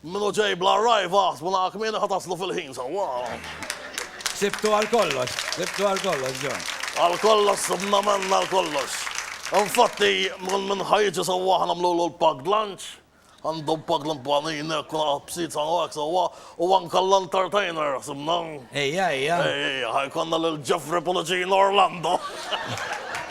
Minu ġej bla rajba, ħsbuna kmieni ħa taslu fil-ħin sewwa. Sibtu għal kollox, sibtu għal kollox, John. Għal kollox, sibna menna għal kollox. Infatti, minn minn ħajġi sawa ħana mlu l-packed lunch, għandu packed l-impanini, kuna għabsit sa' għak sawa, u għanka l-entertainer, sibna. Ejja, ejja. Ejja, ħajkonna l-Jeffrey Policino Orlando.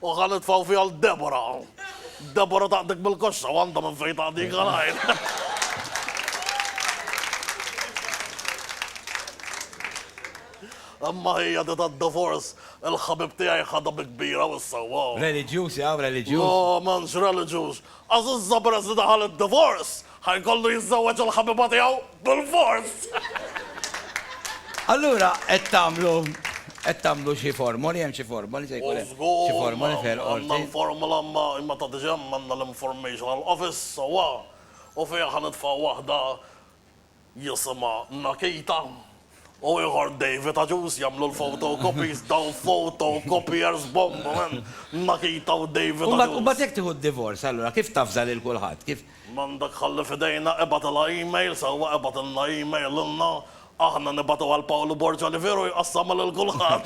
U ħa nitfgħu fiha 'l Debora. Debora taqdik mill-koxxa u għandha minn fejn taqdik għalajr. Imma hija di tad-divorce, il-ħabib tiegħi ħadha bi kbira u issa wow. Reliġjuż, jaf, reliġjuż. No, m'hemmx reliġjuż. Għażiża peress li daħal id-divorz, ħa jkollu jiżżewweġ il-ħabiba tiegħu bilfors! Allura qed tagħmlu qed tagħmlu xi formoli, hemm xi formoli se jkun hemm xi formoli f'Ħel Qorti? Żgur, għandna l-formola imma meta tiġi hemm għandna l-informational office sewwa u fiha ħa nitfgħu waħda jisimha Nakita, u ieħor David Agius jagħmlu l-photo copies, dawn photo copiers bomba man, Nakita u David Agius. U mbagħad, u mbagħad jekk tieħu d-divorz allura kif tavża lil kulħadd? Kif? M'għandek ħalli f'idejna, ibgħatilha email, sewwa ibgħatilna email lilna, aħna nibgħatu għal Pawlu Borg Olivier u jqassamha lil kulħadd.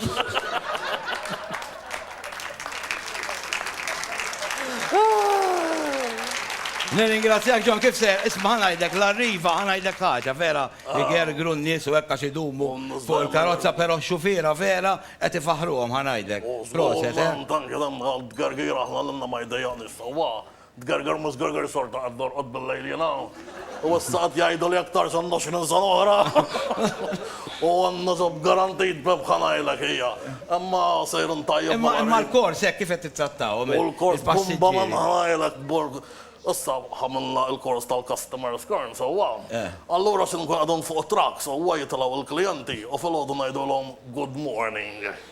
Nirringrazzjak John, kif se, isma' ngħidlek l-arriva, ngħidlek ħaġa, vera, igergru n-nies u hekk għax idumu fuq il-karozza però x-xufiera vera qed ifaħħruhom, ngħidlek. Proset, eh. Tgerger mhu żgerger xorta qed norqod bil-lejl jiena. U issa qed jgħiduli aktarx għandha x'ħin sena oħra. U għandna ġob garantit b'rebħa ngħidlek hija. Imma sejrin tajjeb. Imma imma l-kors hekk kif qed tittrattahom il-passiġġieri? U l-kors bumba ma ngħidlek borg. Issa ħamilna l-kors tal-customer scorn sewwa. Allura xi nkun qegħdin fuq it-truck sewwa jitilgħu l-klijenti u filgħodu ngħidulhom good morning.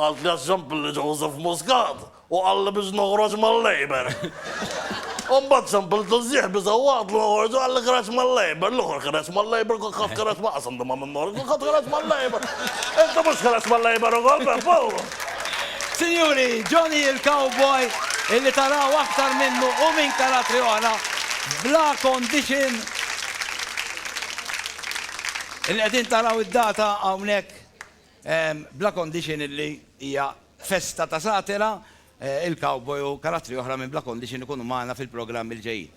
Qaltli għax Jean-Billy Joseph Muscat u qalli biex noħroġ mal-Labour. U mbagħad Jean-Billy Tużżieħ biża' waqt li noħorġ u qalli kienet mal-Labour, l-ieħor kienet mal-Labour, kulħadd kienet ma' qasam li ma' minnu ħorġ, kulħadd kienet mal-Labour. Inti mhux kienet mal-Labour ukoll, Peppo? Sinjuri, Johnny il-Cowboy, illi taraw aktar minnu u minn karatri oħra, bla condition. Il-qegħdin taraw id-data hawnhekk. bla condition illi hija festa ta' satira, il-cowboy u karattri oħra minn Bla Condition ikunu magħna fil-programmi li ġejjin.